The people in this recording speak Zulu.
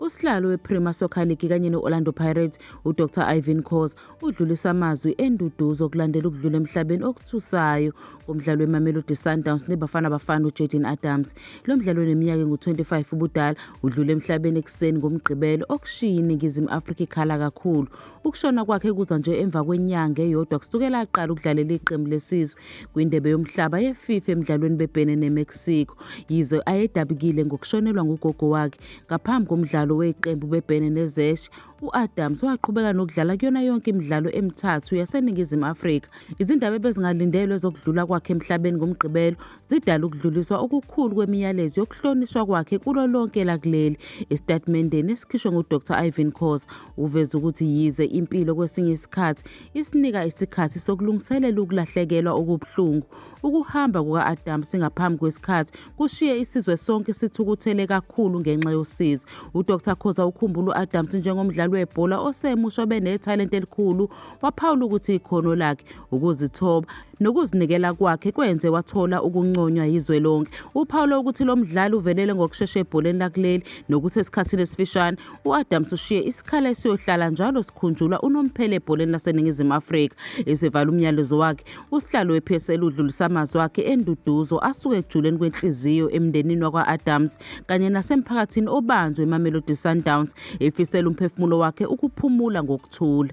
Usihlalo wePremier Soccer League kanye ne-Orlando Pirates uDr Ivan Cos udlulisa amazwi enduduzo okulandela ukudlula emhlabeni okuthusayo komdlalo weMamelodi Sundowns neBafana Bafana uJaden Adams. Lo mdlalo oneminyaka engu-25 ubudala udlule emhlabeni ekuseni ngoMgqibelo okushiye iNingizimu Afrika ikhala kakhulu. Ukushona kwakhe kuza nje emva kwenyanga eyodwa kusukela aqala ukudlalela iqembu lesizwe kwindebe yomhlaba yeFIFA emdlalweni bebhene neMexico. Yize ayedabukile ngokushonelwa ngugogo wakhe ngaphambi komdlalo weqembu bebhene neZesh, u-Adams waqhubeka nokudlala kuyona yonke imidlalo emithathu yaseNingizimu Afrika. Izindaba ebezingalindelwe zokudlula kwakhe emhlabeni ngoMgqibelo zidala ukudluliswa okukhulu kwemiyalezo yokuhlonishwa kwakhe kulo lonke lakuleli. Esitatimendeni esikhishwe nguDr Ivan Khoza, Uveze ukuthi yize impilo kwesinye isikhathi isinika isikhathi sokulungiselela ukulahlekelwa okubuhlungu, ukuhamba kuka-Adam singaphambi kwesikhathi kushiye isizwe sonke sithukuthele kakhulu ngenxa yosizi. UDr Khoza ukhumbula u-Adams njengomdlali webhola osemusha obenethalente elikhulu, waphawula ukuthi ikhono lakhe, ukuzithoba nokuzinikela kwakhe kwenze wathola ukunconywa yizwe lonke. Uphawula ukuthi lo mdlali uvelele ngokushesha ebholeni lakuleli nokuthi esikhathini esifishane U-Adams ushiye isikhala esiyohlala njalo sikhunjulwa unomphela ebholeni laseNingizimu Afrika. Esevala umnyalezo wakhe, usihlalo we-PSL udlulisa amazwi akhe enduduzo asuke ekujuleni kwenhliziyo emndenini wakwa-Adams kanye nasemphakathini obanjwe eMamelodi Sundowns, efisela umphefumulo wakhe ukuphumula ngokuthula.